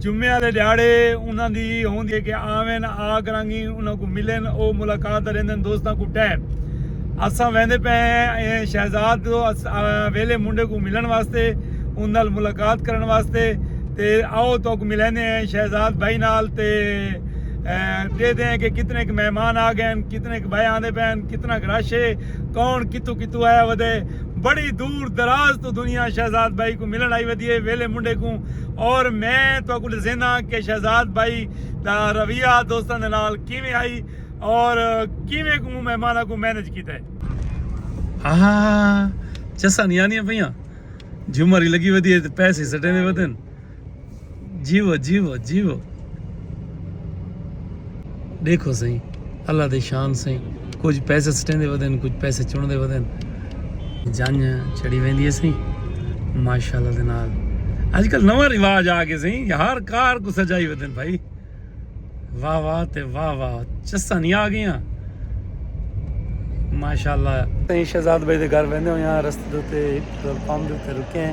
جمعے آلے ڈیہاڑے انہاں دی ہوندی ہے کہ آون آ کراگی انہاں کوں ملن او ملاقات تے رہندن دوستاں کوں ٹہن اساں ویندے پئے ہیں شہزاد ویلے منڈے کوں ملن واسطے ان نال ملاقات کرن واسطے تے آؤ تو کو ملیندے ہیں شہزاد بھائی نال تے دیکھتے ہیں کہ کتنے ایک مہمان آ گئے ہیں کتنے ایک بھائی آندے پئے ہیں کتنا ایک رش ہے کون کتو کتو آیا ودے بڑی دور دراز تو دنیا شہزاد بھائی کو ملن آئی ودی ہے ویلے منڈے کوں اور میں تہاکوں ڈسینا کہ شہزاد بھائی دا رویہ دوستاں دے نال کیویں ہئی اور کیویں کوں مہماناں کوں مینج کیتا ہے۔ ہا چساں نہیں آنیاں پیاں جھمر ہی لگی ودی ہے تے پیسے سٹے دے ودن جیو جیو جیو دیکھو سہی۔ اللہ دی شان سئیں کجھ پیسے سٹیندے ودن کجھ پیسے چوندے ودن جنج چڑی ویندی ہے سئیں ماشاءاللہ دے نال اج کل نواں رواج آ گئے سئیں ہر کار کو سجائی ودن بھائی واہ واہ تے واہ واہ چسا نہیں آ گئیاں ماشاءاللہ سئیں شہزاد بھائی دے گھر ویندے ہویاں رستے تے پمپ تے رکے ہیں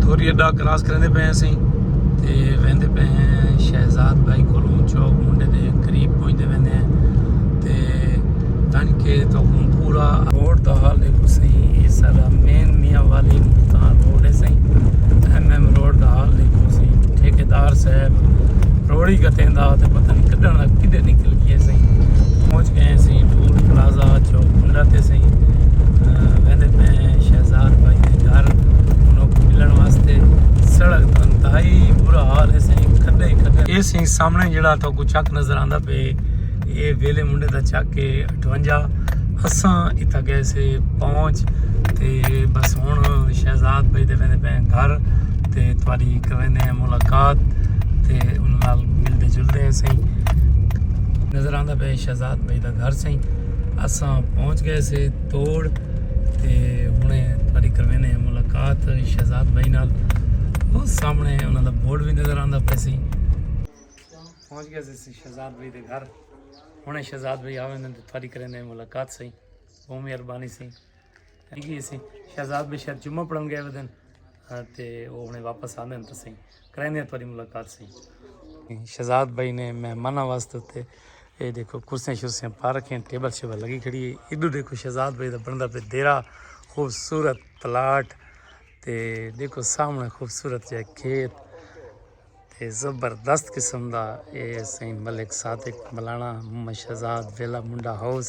دھوری اڈا کراس کریندے پئے ہیں اسی تے ویندے پئے ہیں شہزاد بھائی کولوں چوک منڈے دے قریب پہنچتے ویندے ہیں تے تن کے تو پورا روڈ دا حال دیکھو سہی یہ سارا مین میاں والی ملتان روڈ ہے سہی ایم ایم روڈ دا حال دیکھو سہی ٹھیکیدار صاحب روڑی گتیں دا تے پتہ نہیں کڈن دا کڈے نکل گئے سی پہنچ گئے سی ٹول پلازا چوک پنڈا تے سی ویندے پہ شہزاد بھائی دے گھر انہوں کو ملن واسطے سڑک دا انتہائی برا حال ہے سی کھڈے کھڈے اے سی سامنے جڑا تو کو چک نظر آندا پہ اے ویلے منڈے دا چک کے اٹھونجا اساں اتھا گئے سے پہنچ تے بس ہن شہزاد بھائی دے ویندے پے گھر تے تواڈی کریندے ہیں ملاقات تے ان نال ملدے جلدے ہیں سائیں نظر آندا پے شہزاد بھائی دا گھر سائیں اساں پہنچ گئے سے توڑ تے ہنے تواڈی کریندے ہیں ملاقات شہزاد بھائی نال وہ سامنے انہاں دا بورڈ بھی نظر آندا پے سائیں پہنچ گیا سی سی شہزاد بھائی دے گھر ہنے شہزاد بھائی آویں دن تے تھاری کریں دے ملاقات سی بہو مہربانی سی گئی سی شہزاد بھائی شاید جمعہ پڑھن گئے دن ہاں، تے وہ ہنے واپس آندے ہیں تو سی کریں دے تھاری ملاقات سی شہزاد بھائی نے مہمانہ واسطے تے اے دیکھو کرسیاں شرسیاں پا رکھیں ٹیبل شیبل لگی کھڑی ہے ادھو دیکھو شہزاد بھائی دا بندہ پہ دیرا خوبصورت پلاٹ تے دیکھو سامنے خوبصورت جائے کھیت تے زبردست قسم دا اے سائیں ملک صادق ملانا محمد شہزاد ویلا منڈا ہاؤس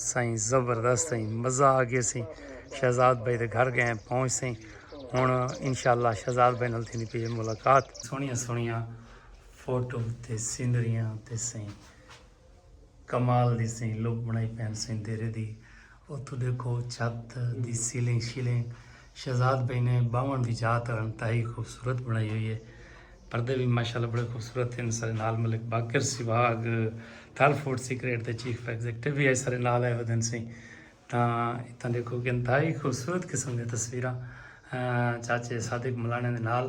سائیں زبردست سائیں مزہ آ گیا سائیں شہزاد بھائی دے گھر گئے پہنچ سائیں ہن انشاءاللہ شہزاد بھائی نال تھیندی پئی ملاقات سونیاں سونیاں فوٹو تے سینریاں تے سائیں کمال دی سئیں لک بنائی پین سئیں دیرے دی اتھو دیکھو چھت دی سیلنگ شیلنگ شہزاد بھائی نے باون دی جا تے انتہائی خوبصورت بنائی ہوئی ہے پردے بھی ماشاءاللہ بڑے خوبصورت ہیں سارے نال ملک باقر سواگ تھل فوڈ سیکریٹ دے چیف ایگزیکٹو بھی ہے سارے نال آئے ودن سئیں تا اتنا دیکھو کہ انتہائی خوبصورت قسم دی تصویراں چاچے صادق ملانے دے نال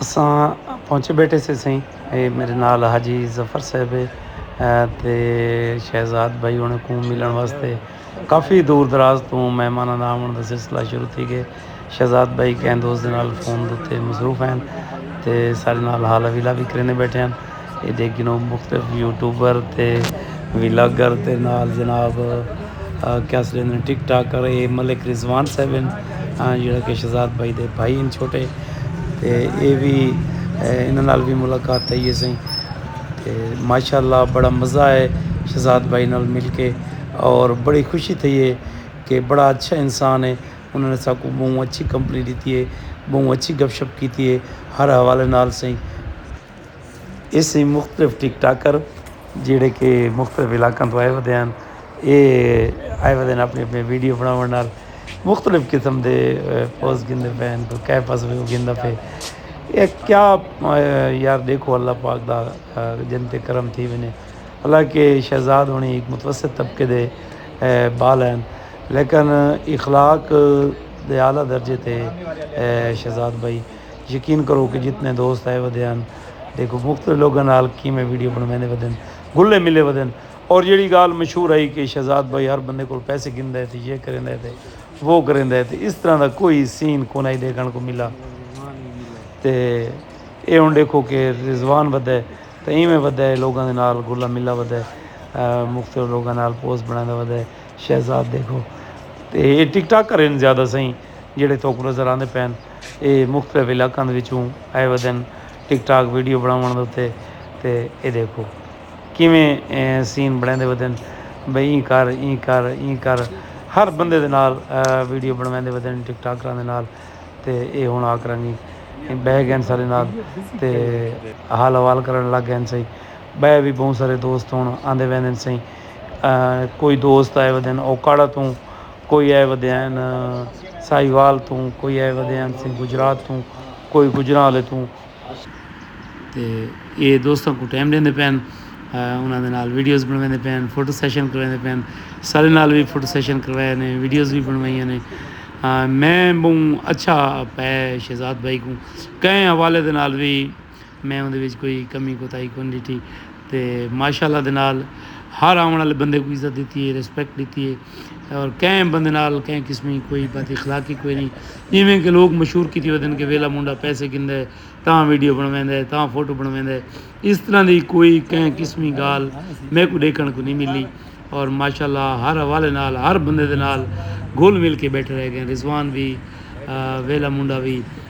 اساں پہنچے بیٹھے سے سئیں اے میرے نال حاجی ظفر صاحب ہے تے شہزاد بھائی انہاں کوں ملن واسطے کافی دور دراز تو مہماناں دا آون دا سلسلہ شروع تھی گئے شہزاد بھائی کہیں دوست دے نال فون دے تے مصروف ہیں تے سارے نال حال ویلا بھی کرینے بیٹھے ہیں ایندے کنوں مختلف یوٹیوبر تے ولاگر دے نال جناب کیا سریندر ٹک ٹاک کر اے ملک رضوان صاحب ہیں جڑا کہ شہزاد بھائی دے بھائی ہیں چھوٹے تے اے بھی انہاں نال بھی ملاقات تھئی ہے سائیں تے ماشاءاللہ بڑا مزہ آئے شہزاد بھائی نال مل کے اور بڑی خوشی تھئی ہے کہ بڑا اچھا انسان ہے انہوں نے ساکوں بہوں اچھی کمپنی دیتی ہے بہوں اچھی گپ شپ کیتی ہے ہر حوالے نال سائیں ایس ایں مختلف ٹک ٹاکر جیڑھے کہ مختلف علاقاں تو آئے ودے ہن اے آئے ودے ہن اپنی اپنی ویڈیو بناوݨ نال مختلف قسم دے پوز گھندے پئے ہن کوئی کیہ پوز گھندا پئے اے کیا یار ݙیکھو اللہ پاک دا جن تے کرم تھی ونجے حالانکہ شہزاد ہݨی ہک متوسط طبقے دے بال ہن لیکن اخلاق دے اعلیٰ درجے تے شہزاد بھائی یقین کرو کہ جتنے دوست آئے ودے ہن دیکھو مختلف لوگوں نال کیویں ویڈیو بنویندے ودن گلے ملے ودن اور جیڑی گال مشہور آئی کہ شہزاد بھائی ہر بندے کول پیسے گھندا ہے تے یہ کریندا ہے تے وہ کریندا ہے تے اس طرح دا کوئی سین کونائی دیکھن کو ملا تے اے ہن دیکھو کہ رضوان ودے ہے تے ایویں ودے ہے لوگوں دے نال گلا ملا ودے ہے مختلف لوگوں نال پوسٹ بنادا ودے ہے شہزاد دیکھو تے اے ٹک ٹاک کرین زیادہ سائیں جیڑے تھوک نظر آندے پین اے مختلف علاقاں دے وچوں آئے ودن ٹک ٹاک ویڈیو بنڑاونڑ دے اتے تے اے دیکھو کیویں سین بنڑیندے ودن بھئی ایں کر ایں کر ایں کر ہر بندے دے نال ویڈیو بنڑویندے ودن ٹک ٹاکراں دے نال تے اے ہن آ کرنگی بہہ گئن سارے نال تے حال حوال کرنڑ لگ گئن سئیں بئے وی بہوں سارے دوست ہن آندے ویندن سئیں کوئی دوست آئے ودن اوکاڑہ توں کوئی آئے ودے ہن ساہیوال توں، کوئی آئے ودے ہن سیں گجرات توں، کوئی گوجرانوالے توں۔ تے اے دوستاں کوں ٹائم ݙیندے پئے ہن، انہاں دے نال ویڈیوز بݨویندے پئے ہن، فوٹو سیشن کرویندے پئے ہن، سارے نال وی فوٹو سیشن کروائے نے، ویڈیوز وی بݨوائیاں نے۔ میں ٻہوں اچھا پائے شہزاد بھائی کوں کئیں حوالے دے نال وی۔ میں اوندے وچ کوئی کمی کوتاہی کون ڈیٹھی تے ماشاءاللہ دے نال ہر آون والے بندے کوں عزت ڈیتی ہے ریسپیکٹ ڈیتی ہے اور کہیں بندے نال کہیں قسم دی کوئی بد اخلاقی کوئی نہیں جیویں کہ لوگ مشہور کیتی ہوئے دن کہ ویلا منڈا پیسے گھندا ہے تاں ویڈیو بنویندا ہے تاں فوٹو بنویندا ہے اس طرح دی کوئی کہیں قسم دی گال میکوں ڈیکھن کوں نہیں ملی اور ماشاءاللہ ہر حوالے نال ہر بندے دے نال گھل مل کے بیٹھے رہ گئے رضوان وی ویلا منڈا وی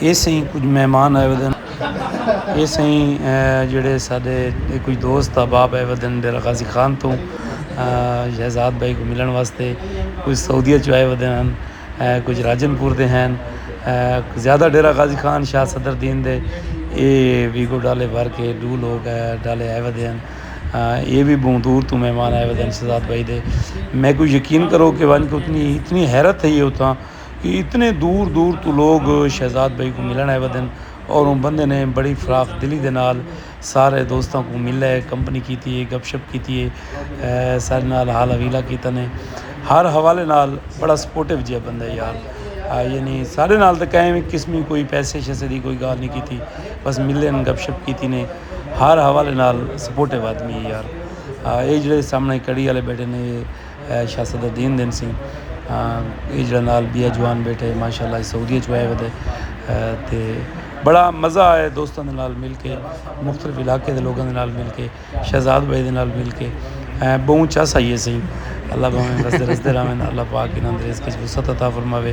اے سئیں کجھ مہمان آئے ودن اے سئیں جیڑھے ساڈے کجھ دوست احباب آئے ودن ڈیرہ غازی خان توں شہزاد بھائی کوں ملݨ واسطے کجھ سعودیہ چوں آئے ودے ہن کجھ راجن پور دے ہن زیادہ ڈیرہ غازی خان شاہ صدر الدین دے اے ویگو ڈالے بھر کے ڈو لوک ڈالے آئے ودے ہن اے وی بہوں دور توں مہمان آئے ودن شہزاد بھائی دے میکوں یقین کرو کہ ونج اتنی اتنی حیرت تھئی ہے اتھاں کہ اتنے دور دور تو لوگ شہزاد بھائی کو ملن آئے ہوئے دن اور ان بندے نے بڑی فراخ دلی دے نال سارے دوستاں کو ملا ہے کمپنی کیتی ہے گپ شپ کیتی ہے سارے نال حال حویلہ کیتا نے ہر حوالے نال بڑا سپورٹو جیا بندہ ہے یار یعنی سارے نال تو کہیں بھی قسم ہی کوئی پیسے شیسے دی کوئی گال نہیں کیتی بس ملے نے گپ شپ کیتی نے ہر حوالے نال سپورٹو آدمی ہے یار یہ جڑے سامنے کڑی والے بیٹھے نے اے شاہ صدر دین دن سی اے جڑا نال بیا جوان بیٹھے ماشاءاللہ اے سعودیہ چوں آئے ودے تے بڑا مزہ آئے دوستاں دے نال مل کے مختلف علاقے دے لوگاں دے نال مل کے شہزاد بھائی دے نال مل کے بہوں چس آئی اے سئیں اللہ بھاویں وسدے رسدے رہون اللہ پاک انہاں دے رزق وچ وسعت عطا فرماوے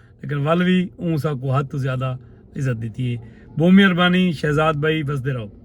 لیکن ول وی اوں ساکوں حد توں زیادہ عزت ڈتی ہے بومی اربانی شہزاد بھائی وسدے رہو۔